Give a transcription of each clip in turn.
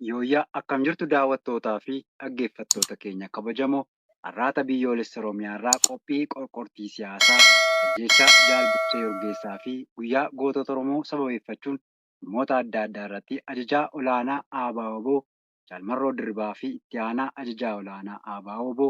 Yooyyaa akkam jirtu daawwattootaa fi dhaggeeffattoota keenya kabajamoo har'aata biyyoolessa Oromiyaa irraa qophii qorqortii siyaasaa ajjeechaa Jaal Birtee Urgeessaa fi guyyaa gootota Oromoo sababeeffachuun dhimmoota adda addaa irratti ajajaa olaanaa ABO Jaal Marroo Dirribaa fi itti aanaa ajajaa olaanaa ABO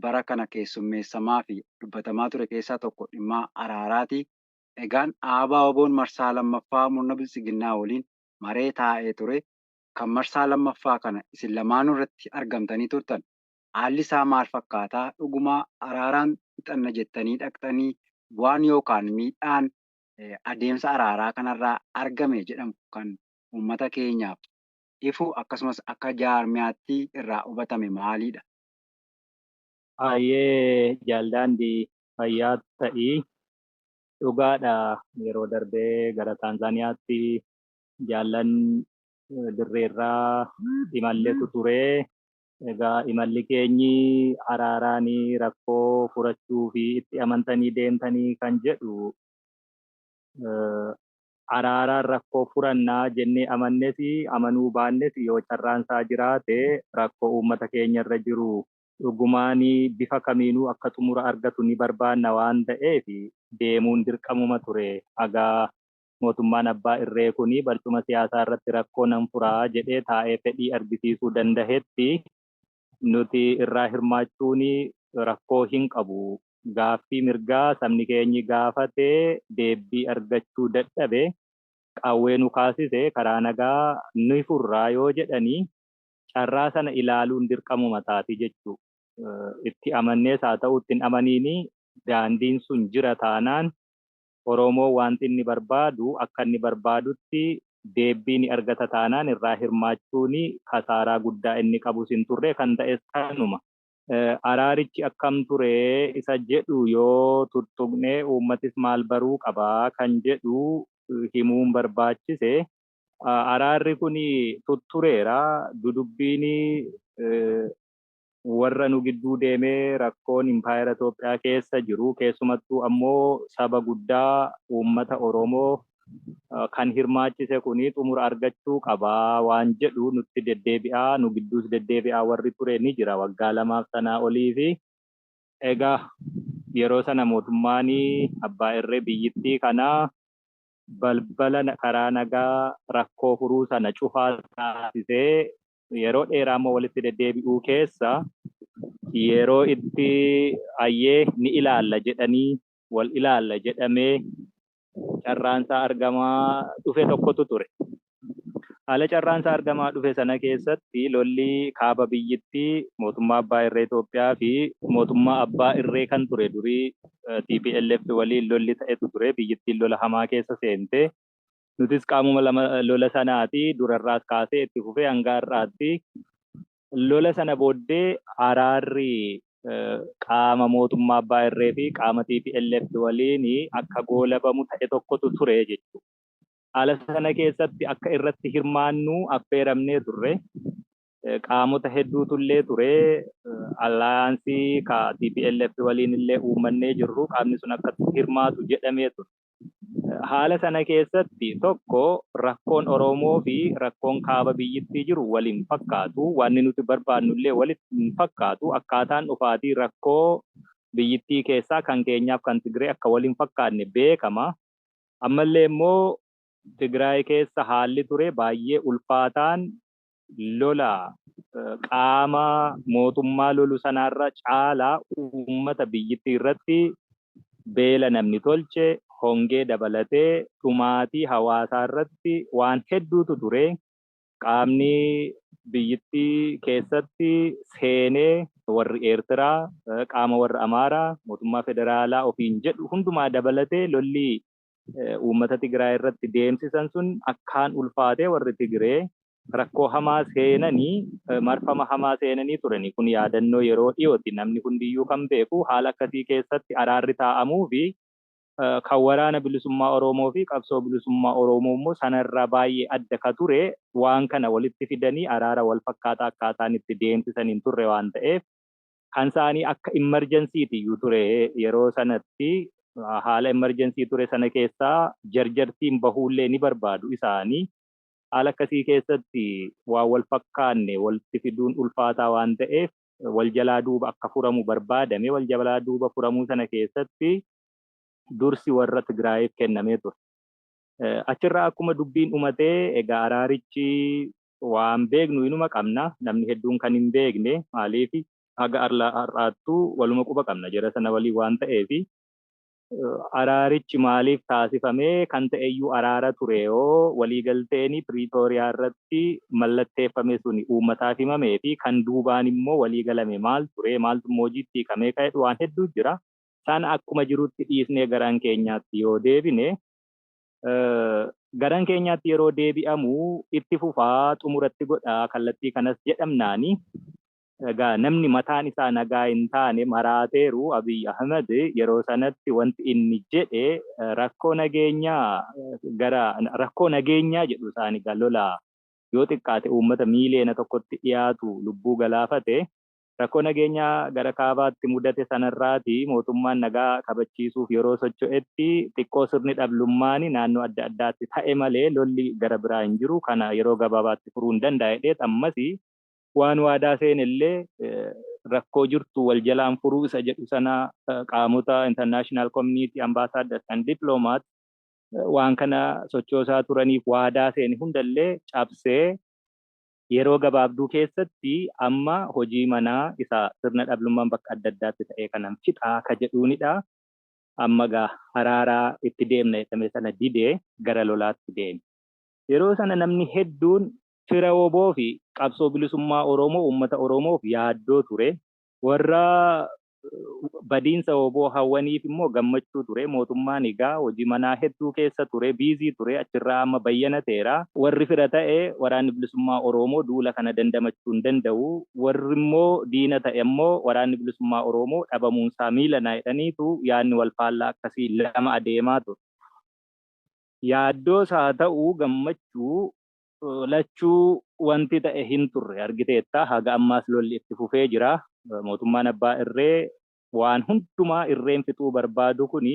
bara kana keessummeessamaafi dubbatamaa ture keessaa tokko dhimma araaraati. Egaan ABOn marsaa 2ffaa murna biltsiginnaa waliin maree taa'ee ture. Kan marsaa 2ffaa kana isin lamaanuu irratti argamtanii turtan. Haalli isaa maal fakkaata? Dhuguma araaraan fixanna jettanii dhaqxanii? Bu'aan yookaan miidhaan adeemsa araaraa kanarraa argame jedhamu kan uummata keenyaaf ifu akkasumas akka jaarmiyaatti irraa hubatame maalidha? Hayyee jaal daandi fayyaa ta'i. Dhugaadha yeroo darbe gara Taanzaaniyaatti jaallan dirreerraa imalletu ture. Egaa imalli keenyi araaraan rakkoo furachuu fi itti amantanii deemtanii kan jedhu araaraan rakkoo furanna jennee amannes amanuu baannes yoo carraan isaa jiraate rakkoo uummata keenya irra jiru dhugumaan bifa kamiinuu akka xumura argatu ni barbaanna waan ta'eef deemuun dirqamuma ture. Haga mootummaan abbaa irree kun barcuma siyaasaa irratti rakkoo nan fura jedhee taa'ee fedhii argisiisuu dandahetti nuti irraa hirmaachuun rakkoo hin qabu. Gaaffii mirgaa sabni keenyi gaafate deebbii argachuu dadhabe qawwee nu kaasise karaa nagaa ni furraa yoo jedhanii carraa sana ilaaluun dirqamuma taati jechuu. Itti amannees haa ta'uu itti hin amaniinii daandiin sun jira taanaan Oromoo waanti inni barbaadu akka inni barbaadutti deebbii ni argata taanaan irraa hirmaachuun kasaaraa guddaa inni qabus hin turre, kan ta'es kanuma. Araarichi akkam ture isa jedhu yoo tuttuqne uummatis maal baruu qaba kan jedhu himuun barbaachise. Araarri kun tuttureera, dudubbiin warra nu gidduu deemee rakkoon impaayera Itoophiyaa keessa jiru keessumattuu ammoo saba guddaa uummata Oromoo kan hirmaachise kuni xumura argachuu qaba waan jedhu nutti deddeebi'aa nu gidduus deddeebi'aa warri ture ni jira waggaa lamaaf sanaa oliifi. Egaa yeroo sana mootummaan abbaa irree biyyittii kana balbala karaa nagaa rakkoo furuu sana cufaa taasisee yeroo dheeraa immoo walitti deddeebi'uu keessa yeroo itti ayyee ni ilaalla jedhanii wal ilaalla jedhamee carraansaa argamaa dhufe tokkotu ture. Haala carraansaa argamaa dhufe sana keessatti lolli kaaba biyyittii mootummaa abbaa irree Itoophiyaa fi mootummaa abbaa irree kan ture durii TPLF waliin lolli ta'etu ture biyyittiin lola hamaa keessa seentee Nutis qaamuma lama lola sanaati. Durarraas kaasee itti fufee hanga har'aatti. Lola sana booddee araarri qaama mootummaa abbaa irree fi qaama TPLF waliin akka goolabamu ta'e tokkotu ture jechuudha. Haala sana keessatti akka irratti hirmaannu affeeramnee turre. Qaamota hedduutu illee ture. Allaayansii ka TPLF waliin illee uummannee jirru qaamni sun akka hirmaatu jedhamee ture. Haala sana keessatti tokko rakkoon Oromoo fi rakkoon kaaba biyyittii jiru wal hin fakkaatu. Wanni nuti barbaadnu illee wal hin fakkaatu. Akkaataan dhufaatii rakkoo biyyittii keessaa kan keenyaaf kan Tigiree akka wal hin fakkaanne beekama. Ammallee immoo Tigiraay keessa haalli ture baay'ee ulfaataan lola qaama mootummaa lolu sanaarra caalaa uummata biyyittii irratti beela namni tolche, hongee dabalatee dhumaatii hawaasaa irratti waan hedduutu ture. Qaamni biyyittii keessatti seenee warri Eertiraa, qaama warra Amaaraa, mootummaa federaalaa ofiin jedhu hundumaa dabalatee lolli uummata Tigraay irratti deemsisan sun akkaan ulfaatee warri Tigree rakkoo hamaa seenanii marfama hamaa seenanii turani. Kun yaadannoo yeroo dhiyooti. Namni hundiyyuu kan beeku haala akkasii keessatti araarri taa'amuu fi kan waraana bilisummaa Oromoo fi qabsoo bilisummaa Oromoo immoo sanarraa baay'ee adda ka ture waan kana walitti fidanii araara wal fakkaataa akkaataan itti deemsisan hin turre waan ta'eef Kan saanii akka emergency ti iyyuu ture yeroo sanatti haala emergency ture sana keessaa jarjartiin bahuullee ni barbaadu isaanii. Haala akkasii keessatti waan wal fakkaanne walitti fiduun ulfaataa waan ta'eef wal jalaa duuba akka furamu barbaadame. Wal jalaa duuba furamuu sana keessatti dursi warra Tigraayiif kennamee ture. Achirraa akkuma dubbiin dhumatee egaa araarichi waan beeknu inuma qabna namni hedduun kan hin beekne maaliif haga har'aattuu waluma quba qabna jara sana waliin waan ta'eef araarichi maaliif taasifame kan ta'eyyuu araara tureyoo waliigalteen piriitooriyaa irratti mallatteeffame suni uummataaf himamee fi kan duubaan immoo waliigalame maal ture maaltu immoo hojiitti hiikamee kan jedhu waan hedduu jira sana akkuma jirutti dhiisnee garaan keenyaatti yoo deebine garan keenyaatti yeroo deebi'amu itti fufaa xumuratti godha kallattii kanas jedhamnaani egaa namni mataan isaa nagaa hin taane maraateeru Abiy Ahmed yeroo sanatti wanti inni jedhe rakkoo nageenyaa gara rakkoo nageenyaa jedhu isaan egaa lola yoo xiqqaate uummata miiliyoona tokkotti dhiyaatu lubbuu galaafate Rakkoo nageenyaa gara kaabaatti mudate sanarraati mootummaan nagaa kabachiisuuf yeroo socho'etti xiqqoo sirni dhablummaani naannoo adda addaatti ta'e malee lolli gara biraa hin jiru kana yeroo gabaabaatti furuun danda'a jedheet ammasi waan waadaa seenellee rakkoo jirtu wal jalaan furuu isa jedhu sana qaamota international community ambassadors and diplomats waan kana sochoosaa turaniif waadaa seene hundallee cabsee yeroo gabaabduu keessatti amma hojii manaa isa sirna dhablummaan bakka adda addaatti ta'ee kanan fixa ka jedhuunidha. Amma egaa haraara itti deemna jedhame sana dide gara lolaatti deeme. Yeroo sana namni hedduun fira wbo fi qabsoo bilisummaa Oromoo, uummata Oromoof yaaddoo ture. Warra badiinsa wbo hawwaniif immoo gammachuu ture. Mootummaan egaa hojii manaa hedduu keessa ture, busy ture, achirraa amma bayyana ta'eera. Warri fira ta'e Waraanni Bilisummaa Oroomoo duula kana dandamachuu hin danda'u, warri immoo diina ta'e immoo Waraanni Bilisummaa Oroomoo dhabamuunsaa miilana jedhaniitu yaadni wal faallaa akkasii lama adeemaa ture. Yaaddoo isaa ta'u gammachuu lachuu wanti ta'e hin turre argiteetta. Haga ammaas lolli itti fufee jira. Mootummaan abbaa irree waan hundumaa irreen fixuu barbaadu kuni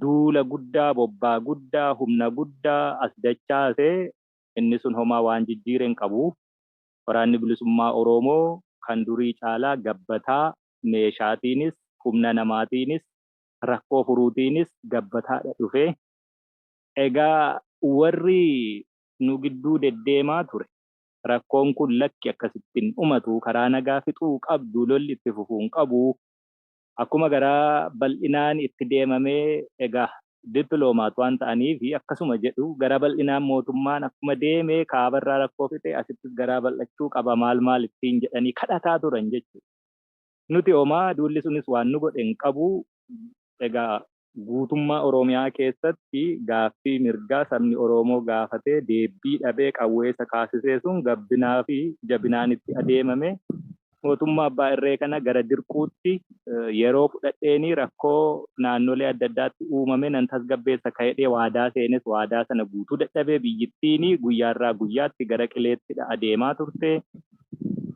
duula guddaa, bobbaa guddaa, humna guddaa as dachaase. Inni sun homaa waan jijjiire hin qabu. Waraanni Bilisummaa Oroomoo kan durii caalaa gabbataa, meeshaatiinis, humna namaatiinis, rakkoo furuutiinis gabbataadha dhufe. Egaa warri nu gidduu deddeemaa ture rakkoon kun lakki akkasitti hin dhumatu, karaa nagaa fixuu qabdu, lolli itti fufuu hin qabu, akkuma garaa bal'inaan itti deemame egaa diplomat waan ta'aniif akkasuma jedhu, garaa bal'inaan mootummaan akkuma deeme kaabarraa rakkoo fixe asittis garaa bal'achuu qaba maal maal ittiin jedhanii kadhataa turan jechuudha. Nuti homaa duulli sunis waan nu godhe hin qabu, egaa Guutummaa Oromiyaa keessatti gaaffii mirgaa sabni Oromoo gaafatee deebbii dhabee qawwee isa kaasisee sun gabbinaa fi jabinaan itti adeemame mootummaa abbaa irree kana gara dirquutti yeroo fudhadheenii rakkoo naannolee adda addaatti uumame nan tasgabbeessa ka'edhee waadaa seenes waadaa sana guutuu dadhabee biyyittiin guyyaarraa guyyaatti gara qileettidha adeemaa turte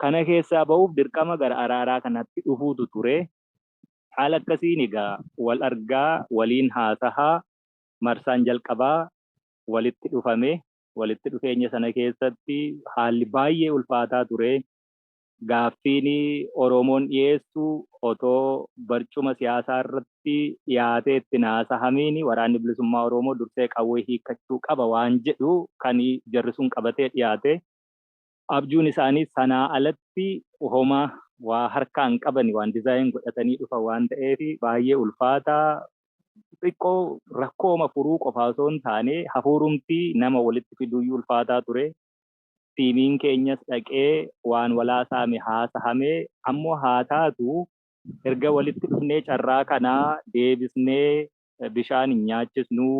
kana keessaa ba'uuf dirqama gara araaraa kanatti dhufuutu ture Haala akkasiin egaa wal argaa, waliin haasahaa, marsaan jalqabaa walitti dhufame. Walitti dhufeenya sana keessatti haalli baay'ee ulfaataa ture. Gaaffiin Oromoon dhiyeessu otoo barcuma siyaasaa irratti dhiyaatee itti hin haasahamiin Waraanni Bilisummaa Oromoo dursee qawwee hiikkachuu qaba waan jedhu kan jarri sun qabatee dhiyaate. Abjuun isaanii sanaa alatti homa waa harkaa hin qabani waan design godhatanii dhufan waan ta'eef baay'ee ulfaata. Xiqqoo rakkooma furuu qofaa osoo hin taane hafuurumti nama walitti fiduuyyuu ulfaataa ture. Tiimiin keenyas dhaqee waan walaasaame haasahame ammoo haa taatu erga walitti dhufnee carraa kana deebisnee bishaan hin nyaachisnu.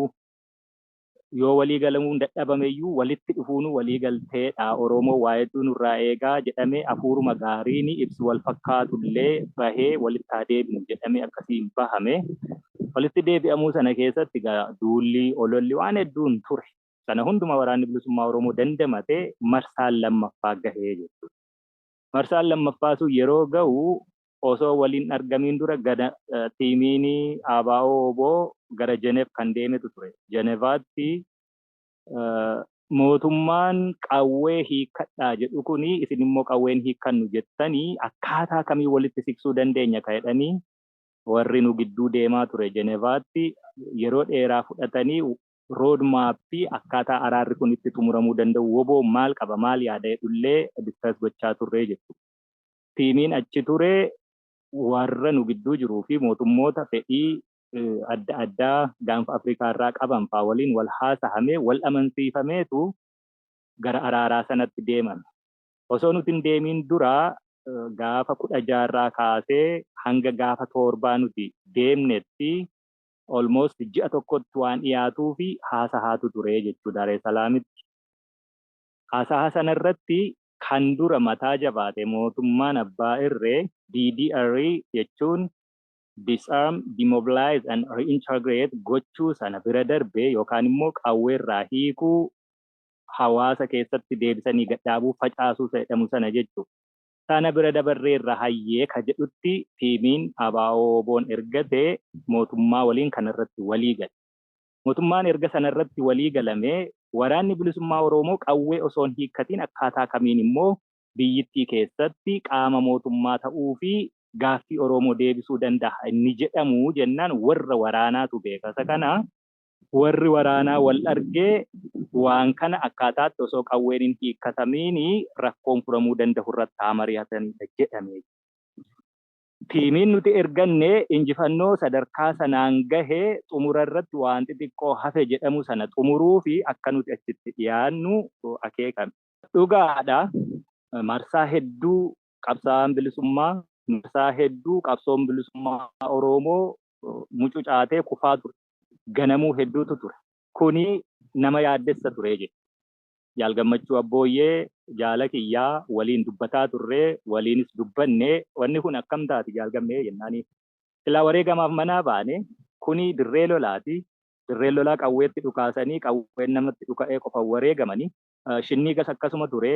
yoo walii galamuun dadhabameyyuu walitti dhufuunuu walii galteedha Oroomoo waa hedduu nurraa eegaa jedhamee afuuruma gaariini ibsi wal fakkaatullee bahee walitti haa deebinu jedhamee akkasiin bahame walitti deebi'amuu sana keessatti egaa duulli ololli waan hedduun ture sana hunduma waraanni bilisummaa Oroomoo dandamate marsaan lammaffaa gahee jechuudha. Marsaan lammaffaa sun yeroo ga'u osoo wal hin argamiin dura gana tiimiin ABO-wbo gara Jenev kan deemetu ture. Jenevaatti mootummaan qawwee hiikkadhaa jedhu kun isin immoo qawwee hin hiikkannu jettanii akkaataa kamiin walitti siqsuu dandeenya ka jedhanii warri nu gidduu deemaa ture Jenevaatti yeroo dheeraa fudhatanii road map akkaataa araarri kun itti xumuramuu danda'u wbo maal qaba maal yaada jedhu illee discuss gochaa turre jechuudha. Tiimiin achi ture warra nu gidduu jiruu fi mootummoota fedhii adda addaa gaanfa Afrikaa irraa qaban faa waliin wal haasahamee wal amansiifameetu gara araaraa sanatti deemame. Osoo nuti hin deemiin dura gaafa 16 irraa kaasee hanga gaafa 7 nuti deemnetti almost ji'a tokkotti waan dhiyaatuufi haasahaatu ture jechuu Daaresalaamitti. Haasaha sana irratti kan dura mataa jabaate mootummaan abbaa irree DDR jechuun Disarm, Demobilize and Reintegrate gochuu sana bira darbee yookaan immoo qawweerraa hiikuu hawaasa keessatti deebisanii gad dhaabuu facaasuu isa jedhamu sana jechuudha. sana bira dabarreerra hayyee ka jedhutti tiimiin ABO-WBOn ergate mootummaa waliin kana irratti walii gale. Mootummaan erga sana irratti walii galamee Waraanni Bilisummaa Oroomoo qawwee osoo hin hiikkatiin akkaataa kamiin immoo biyyittii keessatti qaama mootummaa ta'uu fi gaaffii Oroomoo deebisuu dandaha inni jedhamu jennaan warra waraanaatu beeka isa kana. Warri waraanaa wal arge waan kana akkaataatti osoo qawween hin hiikkatamiin rakkoon furamuu dandahu irratti haa mari'atanidha jedhame. Tiimiin nuti erganne injifannoo sadarkaa sanaan gahe xumura irratti waan xixiqqoo hafe jedhamu sana xumuruufi akka nuti achitti dhiyaannu akeekame. Dhugaadha, marsaa hedduu qabsaa'aan bilisummaa, marsaa hedduu qabsoon bilisummaa Oroomoo mucucaatee kufaa ture. Ganamuu hedduutu ture. Kuni nama yaaddessa ture jedhe. Jaal Gammachuu Abbooyyee jaala kiyyaa waliin dubbataa turre, waliinis dubbanne. Wanni kun akkam taati Jaal Gammee jennaani. Silaa wareegamaaf manaa baane. Kuni dirree lolaati. Dirreen lolaa qawweetti dhukaasanii qawween namatti dhuka'ee qofan wareegamani. Shinniigas akkasuma ture.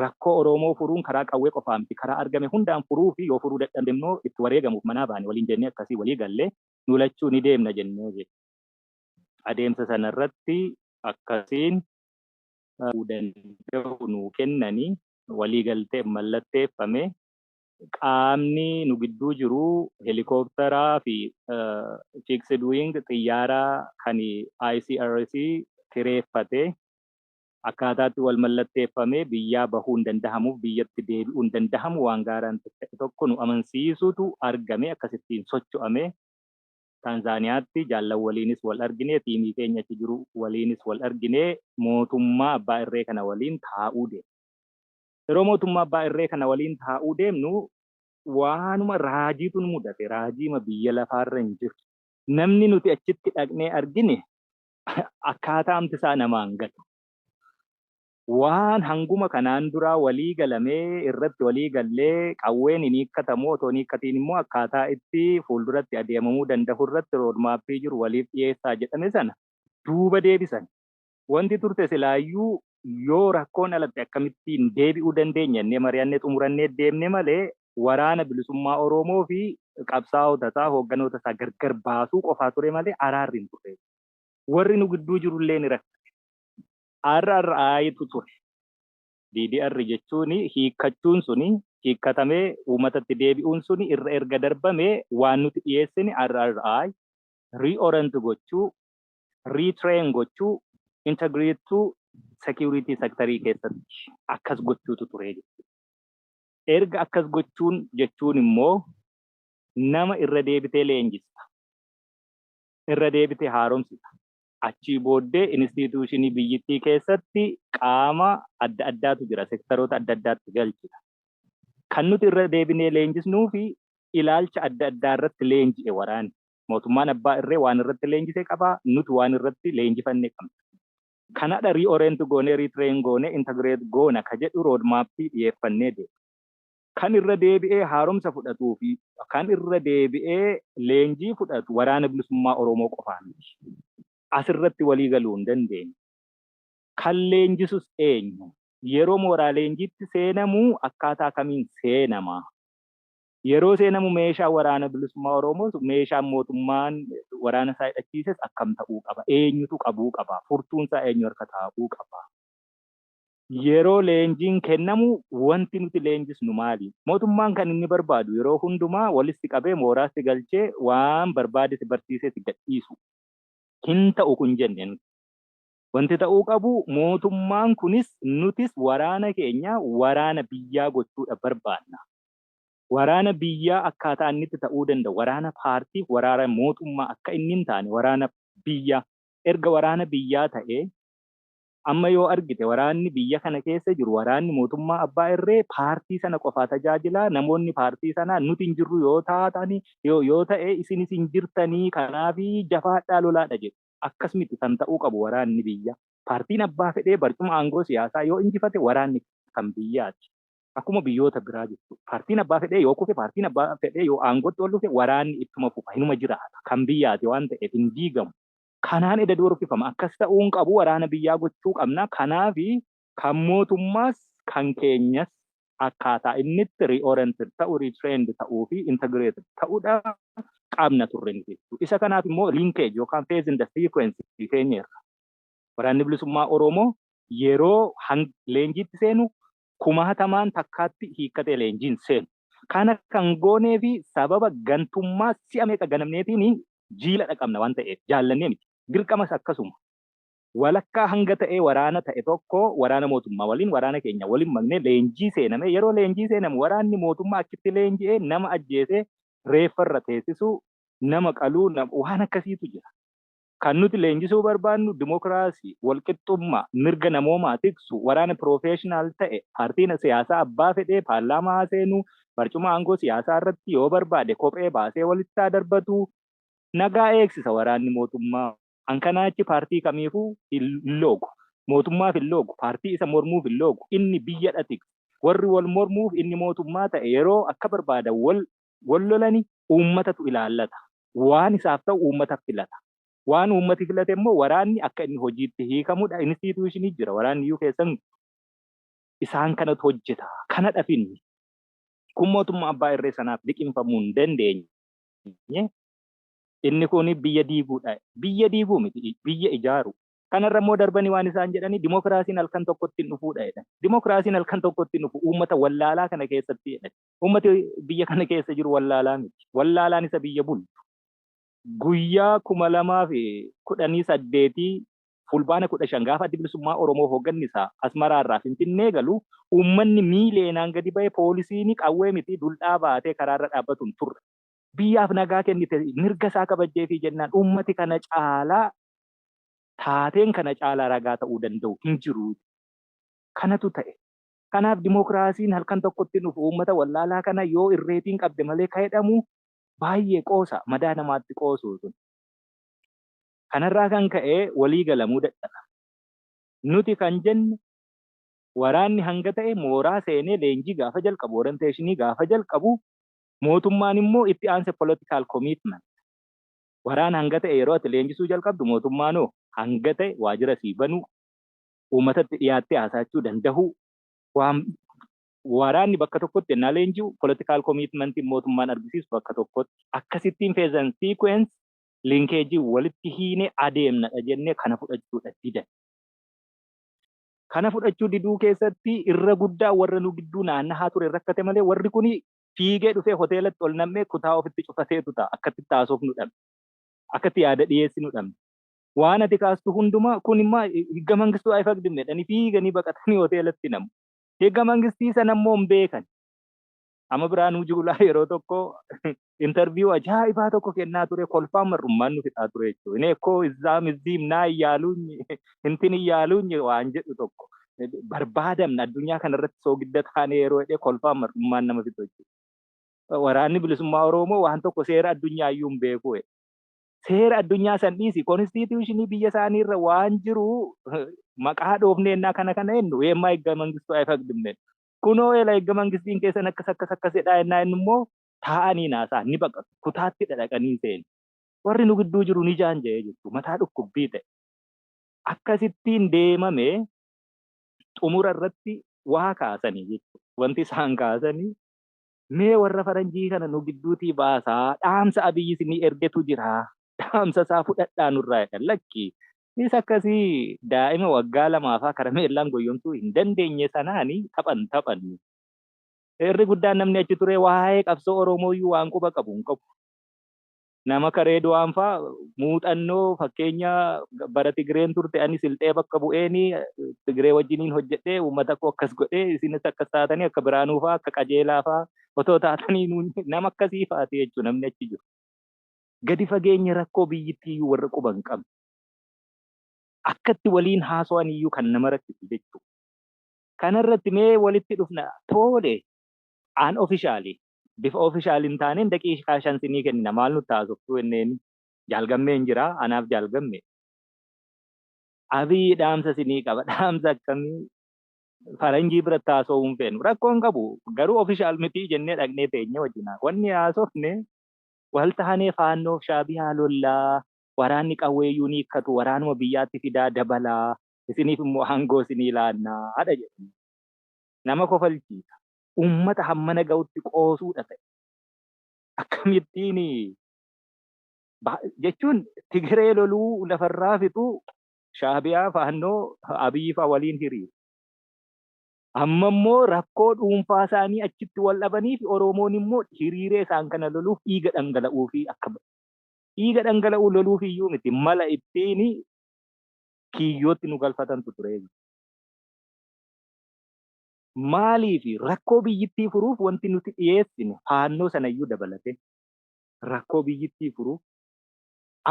Rakkoo Oroomoo furuun karaa qawwee qofaa miti. Karaa argame hundaan furuu fi yoo furuu dadhabne immoo itti wareegamuuf manaa baane waliin jennee akkasii walii galle. Nu lachuu ni deemna jennee jette. Adeemsa sana irratti akkasiin ta'uu danda'u nuu kennani. Walii galteen mallatteeffame. Qaamni nu gidduu jiru helikooptaraa fi fixed wing xiyyaara kan ICRC kireeffate Akkaataatti wal mallatteeffamee biyyaa bahuun dandahamuuf biyyatti deebi'uun dandahamu waan gaaraan ta'e tokko nu amansiisuutu argame akkasittiin socho'ame. Taanzaaniyaatti jaallan waliinis wal argine, tiimii keenya achi jiru waliinis wal argine, mootummaa abbaa irree kana waliin taa'uu deemne. Yeroo mootummaa abbaa irree kana waliin taa'uu deemnu waanuma raajiitu nu mudate, raajiima biyya lafaarra hin jirre. Namni nuti achitti dhaqnee argine akkaataamti isaa nama hin gatu. Waan hanguma kanaan duraa walii galamee irratti walii gallee qawween hin hiikkatamu otoo hin hiikkatiin immoo akkaataa itti fuulduratti adeemamuu danda'u irratti roodmaappii jiru waliif dhiyeessaa jedhame sana duuba deebisan. Wanti turte silaayyuu yoo rakkoon dhalatte akkamittiin deebi'uu dandeenya jennee mari'annee xumurannee deemne malee waraana bilisummaa Oroomoo fi qabsaa'ota isaa, hoogganoota isaa gargar baasuu qofaa ture malee araarri hin turre. Warri nu gidduu jiru illee ni rakkate. RRI tu ture. DDR jechuun hiikkachuun suni, hiikkatamee uummatatti deebi'uun suni irra erga darbamee waan nuti dhiyeessine RRI, Reorient gochuu, retrain gochuu integrate to security sectorii keessatti akkas gochuutu ture jechuudha. Erga akkas gochuun jechuun immoo nama irra deebitee leenjista. Irra deebitee haaromsita. Achii booddee instituushinii biyyittii keessatti qaama adda addaatu jira. Sektaroota adda addaatti galchita. Kan nuti irra deebinee leenjisnuu fi ilaalcha adda addaa irratti leenji'e waraanni. Mootummaan abbaa irree waan irratti leenjise qaba, nuti waan irratti leenjifanne qabna. Kanadha reorient goonee, retrain goonee, integrate goona ka jedhu road map dhiyeeffannee deemna. Kan irra deebi'ee haaromsa fudhatuu fi kan irra deebi'ee leenjii fudhatu Waraana Bilisummaa Oromoo qofaa miti. As irratti walii galuu hin dandeenyu. Kan leenjisus eenyu? Yeroo mooraa leenjiitti seenamu akkaataa kamiin seenama? Yeroo seenamu meeshaan Waraana Bilisummaa Oromootu meeshaan mootummaan waraana isaa hidhachiises akkam ta'uu qaba? Eenyutu qabuu qaba? Furtuun isaa eenyu harka taa'uu qaba? Yeroo leenjiin kennamu wanti nuti leenjisnu maali? Mootummaan kan inni barbaadu yeroo hundumaa walis si qabee mooraa si galchee waan barbaade si barsiisee si gadhiisu. Hin ta'u kun jennee nuti. Wanti ta'uu qabu mootummaan kunis nutis waraana keenya waraana biyyaa gochuudha barbaanna. Waraana biyyaa akkaataa inni itti ta'uu danda'u waraana paartiif waraara mootummaa akka inni hin taane waraana biyyaa erga waraana biyyaa ta'ee amma yoo argite waraanni biyya kana keessa jiru waraanni mootummaa abbaa irree paartii sana qofaa tajaajilaa namoonni paartii sanaa nuti hin jirru yoo taatani yoo yoo ta'e isinis hin jirtanii kanaaf jafaadhaa lolaadha jedhu akkas miti kan ta'uu qabu waraanni biyyaa paartiin abbaa fedhee barcuma aangoo siyaasaa yoo injifate waraanni kan biyyaati. Akkuma biyyoota biraa jechuudha. Paartiin abbaa fedhee yoo kufe, paartiin abbaa fedhee yoo aangootti ol dhufe waraanni ittuma fufa, hinuma jiraata. Kan biyyaati waan ta'eef hin diigamu. Kanaan eda doorfifama. Akkas ta'uu hin qabu, waraana biyyaa gochuu qabna. Kanaaf kan mootummaas kan keenyas akkaataa inni itti reoriented ta'u, retrained ta'uu fi integrated ta'udha qabna turre nuti jechuudha. Isa kanaaf immoo linkage yookaan phase in the sequence teenyeerra. Waraanni Bilisummaa Oromoo yeroo hang leenjiitti seenu kumaatamaan takkaatti hiikkatee leenjiin seenu. Kana kan gooneef sababa gantummaa si'a meeqa ganamneetiin jiila dhaqabna waan ta'eef jaallannee miti. Dirqamas akkasuma. Walakkaa hanga ta'e waraana ta'e tokko waraana mootummaa waliin waraana keenya waliin maknee leenjii seename. Yeroo leenjii seenamu waraanni mootummaa achitti leenji'ee nama ajjeesee reeffa irra teessisuu, nama qaluu, waan akkasiitu jira. Kan nuti leenjisuu barbaannu dimokiraasii, walqixxummaa, mirga namoomaa tiksu, waraana piroofeeshinaal ta'e, paartiin siyaasaa abbaa fedhee paarlaamaa haa seenu, barcuma aangoo siyaasaa irratti yoo barbaade kophee baasee walitti haa darbatu. Nagaa eegsisa waraanni mootummaa. Kan kanaa achi paartii kamiifuu hin loogu. Mootummaaf hin loogu, paartii isa mormuuf hin loogu. Inni biyyadha tiksa. Warri wal mormuuf inni mootummaa ta'e yeroo akka barbaadan wal wal lolani uummatatu ilaallata. Waan isaaf ta'u uummata filata. Waan uummati filate immoo waraanni akka inni hojiitti hiikamudha. Institution jira waraanni iyyuu keessan isaan kanatu hojjeta. Kanadhaf inni kun mootummaa abbaa irree sanaaf liqimfamuu hin dandeenye. Inni kun biyya diiguudha. Biyya diiguu miti biyya ijaaru. Kanarra immoo darbanii waan isaan jedhani dimokiraasiin halkan tokkotti hin dhufuudha jedhan. Dimokiraasiin halkan tokkotti hin dhufu uummata wallaalaa kana keessatti jedhani. Uummati biyya kana keessa jiru wallaalaa miti. Wallaalaan isa biyya bulchu. Guyyaa 2018 Fulbaana 15 gaafa Addi Bilisummaa Oromoo hoogganni isaa Asmaraa irraa Finfinnee galu uummanni miiliyeenaan gadi ba'e poolisiin qawwee miti duldhaa baatee karaa irra dhaabbatu hin turre. Biyyaaf nagaa kennite mirga isaa kabajjeefii jennaan uummati kana caalaa taateen kana caalaa ragaa ta'uu danda'u hin jiru. Kanatu ta'e. Kanaaf dimookiraasiin halkan tokkotti hin dhufu. Uummata wallaalaa kana yoo irreetiin qabde malee ka jedhamu baay'ee qoosa. Madaa namaatti qoosu sun. Kanarraa kan ka'e walii galamuu dadhaba. Nuti kan jennu waraanni hanga ta'e mooraa seenee leenjii gaafa jalqabu, orientation gaafa jalqabu mootummaan immoo itti aanse political commitment. Waraana hanga ta'e yeroo ati leenjisuu jalqabdu mootummaanoo hanga ta'e waajjira sii banuu, uummatatti dhiyaattee haasaachuu dandahuu, waan waraanni bakka tokkotti ennaa leenji'u political commitment mootummaan argisiisu bakka tokkotti akkasittiin phase and sequence linkage walitti hiinee adeemnadha jennee kana fudhachuudha didan. Kana fudhachuu diduu keessatti irra guddaa warra nu gidduu naannahaa ture rakkate malee warri kuni fiigee dhufee hoteelatti ol nam'ee kutaa ofitti cufateetu ta'a akkatti itti haasofnu dhabne. Akkatti yaada dhiyeessinu dhabne. waan ati kaastu hundumaa kun immaa higga mangistuu ayfaqdim jedhanii fiiganii baqatanii hoteelatti namu. Higga mangistii sana immoo hin beekan. Amma Biraanuu Juulaa yeroo tokko interviyuu ajaa'ibaa tokko kennaa ture kolfaan mar'ummaan nu fixaa ture jechuudha. Inni ekkoo izzaam izziim naa iyyaaluunyi hintin iyyaaluunyi waan jedhu tokko barbaadamna addunyaa kanarratti soogidda taanee yeroo jedhee kolfaan mar'ummaan nama fixu jechuudha. Waraanni bilisummaa Oromoo waan tokko seera addunyaa iyyuu hin beeku. seera addunyaa san dhiisi konstituushinii biyya isaanii irra waan jiru maqaa dhoofnee innaa kana kana jennu weemmaa eegga mangistuu ayifaqdimne kunoo eela eegga mangistiin keessan akkas akkas akkas jedhaa innaa inni immoo taa'anii naasaa ni baqatu kutaatti dhadhaqanii seenu warri nu gidduu jiru ni jaanja'ee jirtu mataa dhukkubbii ta'e akkasittiin deemame xumura irratti waa kaasanii jechuudha wanti isaan kaasanii Mee warra faranjii kana nu gidduutii baasaa dhaamsa Abiy isinii ergetu jira dhaamsa isaa fudhadhaa nurraa jedhan lakki is akkasii daa'ima waggaa lamaa faa karameellaan goyyomsuu hin dandeenye sanaani taphan taphannu irri guddaan namni achi turee waa'ee qabsoo Oromooyyuu waan quba qabu hin qabu. Nama akka Reedwaan faa muuxannoo fakkeenya bara Tigireen turte ani silxee bakka bu'een Tigiree wajjiniin hojjedhee uummata koo akkas godhee isinis akkas taatanii akka Biraanuu faa akka Qajeelaa faa otoo taatanii nuun nama akkasii faati jechuu namni achi jiru. Gadi fageenya rakkoo biyyittii iyyuu warra quba hin qabne. Akkatti waliin haaso'an iyyuu kan nama rakkisu jechuu. Kanarratti mee walitti dhufna toole an officially bifa official hin taaneen daqiiqaa shan sinii kennina maal nutti haasoftuu jenneen Jaal Gammeen jira anaaf Jaal Gamme Abiy dhaamsa sinii qaba dhaamsa akkamii faranjii biratti haasa'uu hin feenu rakkoo hin qabu garuu official mitii jennee dhaqnee teenye wajjin wanni haasofne wal taanee faannoof shaabiyaa lollaa waraanni qawweeyyuu ni hiikkatu waraanuma biyyaatti fidaa dabalaa isiniif immoo aangoo sinii laannaa haadha jedhanii nama kofalchiisa uummata hammana ga'utti qoosuudha ta'e. Akkamittiin jechuun Tigiree loluu lafarraa fixuu Shaabiyaa faannoo Abiyyi fa'a waliin hiriiru. Amma immoo rakkoo dhuunfaa isaanii achitti wal dhabanii fi Oromoon immoo hiriiree isaan kana loluuf dhiiga dhangala'uu fi akka dhiiga dhangala'uu loluuf iyyuu miti mala ittiin kiyyootti nu galfatantu ture. Maaliif? Rakkoo biyyittii furuuf wanti nuti dhiyeessine faannoo sanayyuu dabalatee rakkoo biyyittii furuuf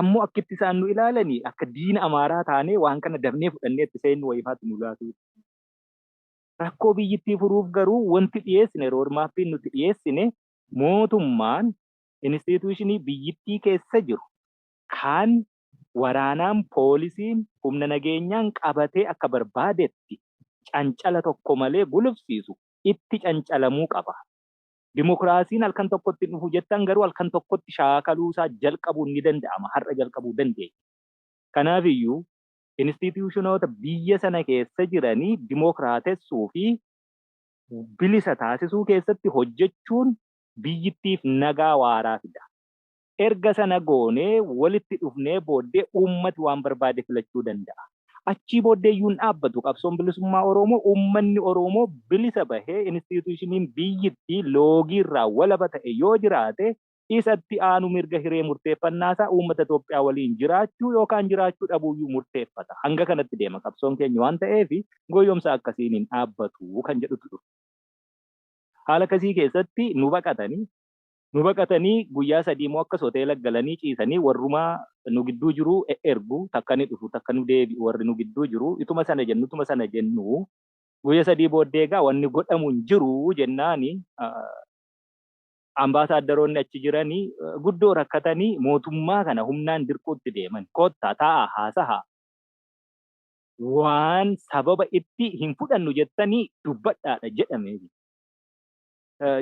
ammoo akkitti isaan nu ilaalanii akka diina Amaaraa taanee waan kana dafnee fudhannee itti seennu wayifaatti nu laatu. Rakkoo biyyittii furuuf garuu wanti dhiyeessine roodmaappiin nuti dhiyeessine mootummaan inistiituushinii biyyittii keessa jiru kan waraanaan, poolisiin, humna nageenyaan qabatee akka barbaadetti cancala tokko malee gulufsiisu itti cancalamuu qaba. Dimokiraasiin halkan tokkotti hin dhufu jettan garuu halkan tokkotti shaakaluusaa jalqabuun ni danda'ama, har'a jalqabuu dandeenya. Kanaafiyyuu instiitiyuushinoota biyya sana keessa jiranii dimokiraatessuu fi bilisa taasisuu keessatti hojjechuun biyyittiif nagaa waaraa fida. Erga sana goonee walitti dhufnee booddee uummati waan barbaade filachuu danda'a. Achii booddee iyyuu hin dhaabbatu qabsoon bilisummaa Oroomoo uummanni Oroomoo bilisa bahee instituushiniin biyyittii loogii irraa walaba ta'e yoo jiraate isa itti aanu mirga hiree murteeffannaa isaa uummata Itoophiyaa waliin jiraachuu yookaan jiraachuu dhabuu iyyuu murteeffata. Hanga kanatti deema qabsoon keenya waan ta'eef goyyomsa akkasiin hin dhaabbatu kan jedhutu dhufe. Haala akkasii keessatti nu baqatanii. Nu baqatanii guyyaa sadiimoo akkas hoteela galanii ciisanii warruma nu gidduu jiru e'ergu, takka ni dhufu takka nu deebi'u warri nu gidduu jiru, ituma sana jennu ituma sana jennu guyya sadii booddee egaa wanni godhamu hin jiru jennaani ambaasaaddaroonni achi jirani guddoo rakkatanii mootummaa kana humnaan dirquutti deeman. Kottaa taa'aa haasahaa waan sababa itti hin fudhannu jettanii dubbadhaadha jedhame.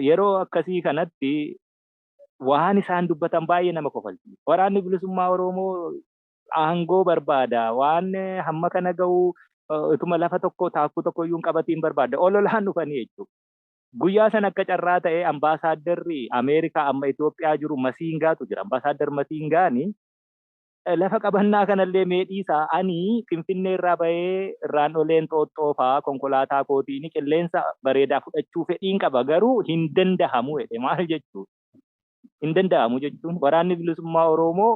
yeroo akkasii kanatti waan isaan dubbatan baay'ee nama kofalchiisa. Waraanni bilisummaa Oromoo aangoo barbaada. Waan hamma kana ga'u utuma lafa tokko taakkuu tokko iyyuu hin qabatiin barbaada. Ololaan dhufanii jechuudha. Guyyaa sana akka carraa ta'ee ambaasaaddarri Ameerikaa amma Itoophiyaa jiru Masiingaatu jira. Ambaasaaddar Masiingaani Lafa qabannaa kanallee mee dhiisaa ani Finfinneerraa bahee irraan olee Inxooxxoo faa konkolaataa kootiin qilleensa bareedaa fudhachuu fedhiin qaba garuu hin dandahamu jedhe maal jechuudha? Hin dandahamu jechuun waraanni bilisummaa Oroomoo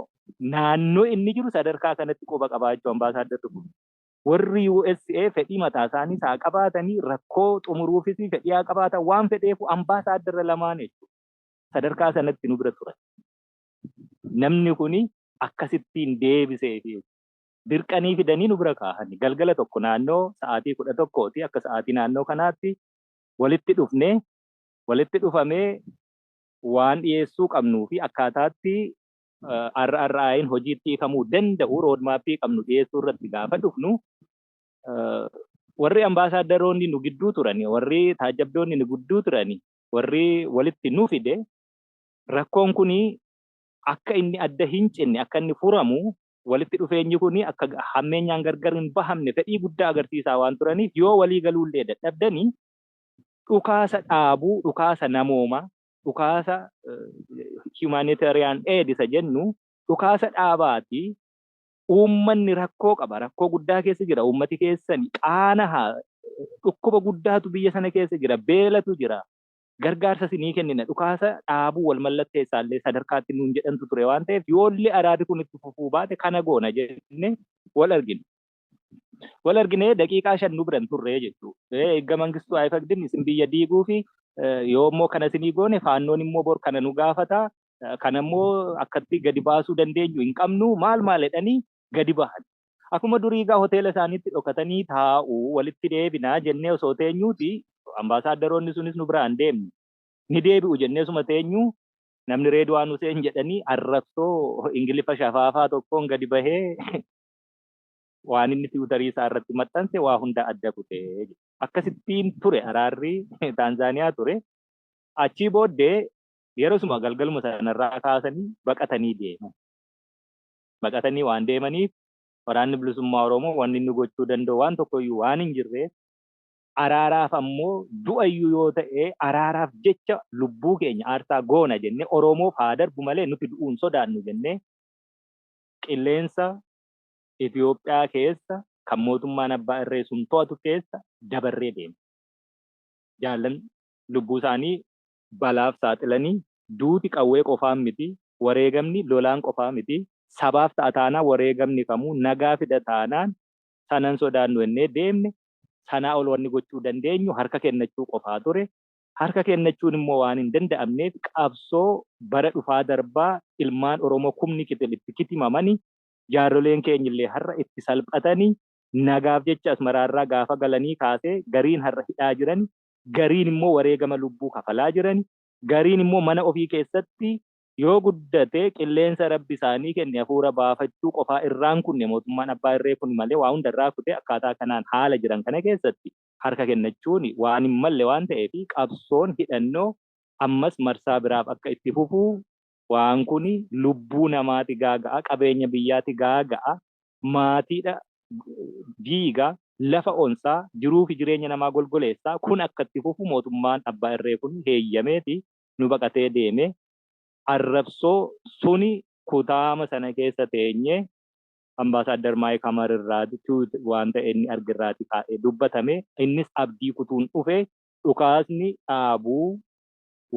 naannoo inni jiru sadarkaa kanatti quba qabaa jechuu Ambaasaaddarri kun. Warri USA fedhii mataa isaaniis haa qabaatanii rakkoo xumuruufis fedhii haa qabaatan waan fedheefuu Ambaasaaddara lamaan jechuudha. Sadarkaa sanatti nu bira turan. namni kuni akkasittiin deebisee fi dirqanii fidanii nu bira kaahani. Galgala tokko naannoo sa'aatii kudha tokkooti akka sa'aatii naannoo kanaatti walitti dhufne. Walitti dhufamee waan dhiyeessuu qabnuu fi akkaataatti RRI'n hojiitti hiikamuu danda'u roodmaappii qabnu dhiyeessuu irratti gaafa dhufnu warri ambaasaaddaroonni nu gidduu turani, warri taajjabdoonni nu gidduu turani, warri walitti nu fide Rakkoon kun akka inni adda hincitne, akka inni furamu, walitti dhufeenyi kun akka hammeenyaan gargar hin bahamne fedhii guddaa agarsiisaa waan turaniif yoo walii galuullee dadhabdani dhukaasa dhaabuu, dhukaasa namoomaa, dhukaasa humanitarian aid isa jennu dhukaasa dhaabaati uummanni rakkoo qaba, rakkoo guddaa keessa jira, uummati keessani qaanaha, dhukkuba guddaatu biyya sana keessa jira, beelatu jira, gargaarsas ni kennina, dhukaasa dhaabuu wal mallatteessaallee sadarkaatti nuun jedhantu ture waan ta'eef yoollee araadi kun itti fufuu baate kana goona jennee wal argine. Wal arginee daqiiqaa shan nu biran turree jechuu. Eegga Mangistuu Ayifagdin isin biyya diiguu fi yoo immoo kana isinii goone faannoon immoo bor kana nu gaafata. Kana immoo akkatti gadi baasuu dandeenyu hin qabnu maal maal jedhanii gadi bahan. Akuma durii egaa hoteela isaaniitti dhokatanii taa'u. Walitti deebina jennee osoo teenyuuti ambaasaaddaroonni sunis nu biraa hin deemne. Ni deebi'u jennee osuma teenyuu namni Reedwaan Huseen jedhanii arrabsoo Ingiliffa shafaafaa tokkoon gadi bahee waan inni tiwutarii isaa irratti maxxanse waa hunda adda kute. Akkasittiin ture araarri Taanzaaniyaa ture. Achii booddee yerosuma galgaluma sanarraa kaasanii baqatanii deeman. baqatanii waan deemaniif Waraanni Bilisummaa Oromoo wanni inni gochuu danda'u waan tokkoyyuu waan hin jirreef araaraaf ammoo du'ayyuu yoo ta'e araaraaf jecha lubbuu keenya aarsaa goona jennee Oromoof haa darbu malee nuti du'uu hin sodaannu jennee qilleensa Itoophiyaa keessa kan mootummaan abbaa irree sun to'atu keessa dabarree deemne. Jaallan lubbuu isaanii balaaf saaxilanii, duuti qawwee qofaan miti, wareegamni lolaan qofaa miti, sabaaf ta'a taanaan wareegamni kamuu nagaa fida taanaan sana hin sodaannu jennee deemne, sanaa ol wanni gochuu dandeenyu harka kennachuu qofaa ture, harka kennachuun immoo waan hin danda'amneef qabsoo bara dhufaa darbaa ilmaan Oromoo kumni kitil itti kitimamani, jaarroleen keenyillee har'a itti salphatani, nagaaf jecha Asmaraarraa gaafa galanii kaasee gariin har'a hidhaa jirani, gariin immoo wareegama lubbuu kafalaa jirani, gariin immoo mana ofii keessatti yoo guddate qilleensa Rabbi isaanii kenne hafuura baafachuu qofaa irraan kunne mootummaan abbaa irree kun malee waa hunda irraa kutee akkaataa kanaan haala jiran kana keessatti harka kennachuun waan hin malle waan ta'eef qabsoon hidhannoo ammas marsaa biraaf akka itti fufu waan kun lubbuu namaati gaaga'a qabeenya biyyaati gaaga'a maatiidha diiga lafa onsaa jiruufi jireenya namaa golgoleessa kun akka itti fufu mootummaan abbaa irree kun heeyyameefi nu baqatee deeme arrabsoo suni kutaama sana keessa teenyee Ambaasaaddar Maayik Hamar irraa tuut waanta inni arge irraati kaa'ee dubbatame innis abdii kutuun dhufe dhukaasni dhaabuu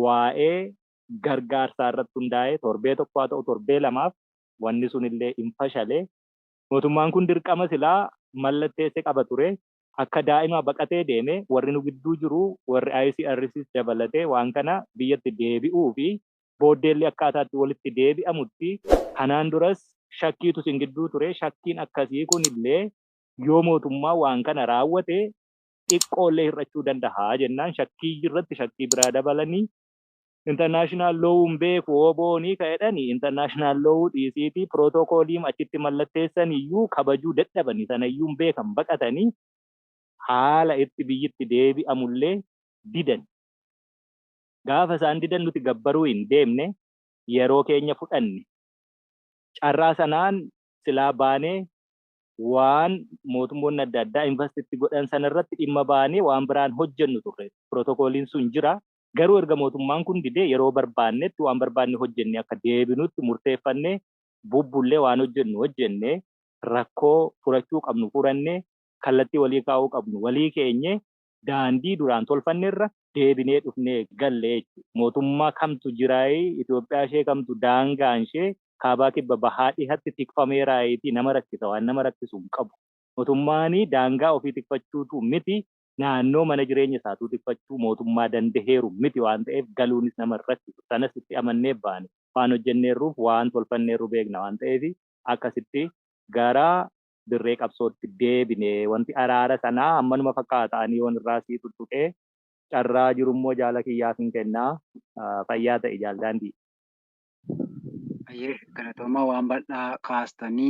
waa'ee gargaarsaa irratti hundaa'ee torbee tokko haa ta'u torbee lamaaf wanni sun illee hin fashale. Mootummaan kun dirqama silaa mallatteesse qaba ture. Akka daa'imaa baqatee deeme warri nu gidduu jiru warri ICRCs dabalatee waan kana biyyatti deebi'uu fi booddee illee akkaataa itti walitti deebi'amutti kanaan duras shakkiitu isin gidduu ture shakkiin akkasii kun illee yoo mootummaa waan kana raawwate xiqqoo illee hir'achuu danda'a jennaan shakkii irratti shakkii biraa dabalanii International law hin beeku OBOni ka jedhani international law dhiisiiti protocolm achitti mallatteessan iyyuu kabajuu dadhabani sana iyyuu hin beekan baqatani haala itti biyyi itti deebi'amu illee didan. Gaafa isaan didan nuti gabbaruu hin deemne yeroo keenya fudhanne. Carraa sanaan silaa baanee waan mootummoonni adda addaa invast itti godhan sana irratti dhimma baanee waan biraan hojjennu turre. Protocolin sun jira Garuu erga mootummaan kun didee yeroo barbaannetti waan barbaanne hojjennee akka deebinutti murteeffannee bubbullee waan hojjennu hojjennee rakkoo furachuu qabnu furannee kallattii walii kaa'uu qabnu walii keenyee daandii duraan tolfannerra deebinee dhufnee galle jechuudha. Mootummaa kamtu jiraayi? Itoophiyaa ishee kamtu daangaanshee kaabaa kibba bahaa dhihatti tikfameeraayiitii nama rakkisa waan nama rakkisu hin qabu. Mootummaan daangaa ofii tikfachuutuu miti naannoo mana jireenya isaatuu tikfachuu mootummaa dandaheeru miti waan ta'eef galuunis nama hin rakkisu. Sanas itti amannee baane. Waan hojjenneerruuf waan tolfanneerru beekna waan ta'eef akkasitti gara dirree qabsootti deebine. Wanti araara sanaa ammanuma fakkaata. Ani yoon irraa sii tuttuqee carraa jirummoo jaala kiyyaafin kenna. Fayyaa ta'i Jaal Daandii. Hayyee galatoomaa waan bal'aa kaastanii.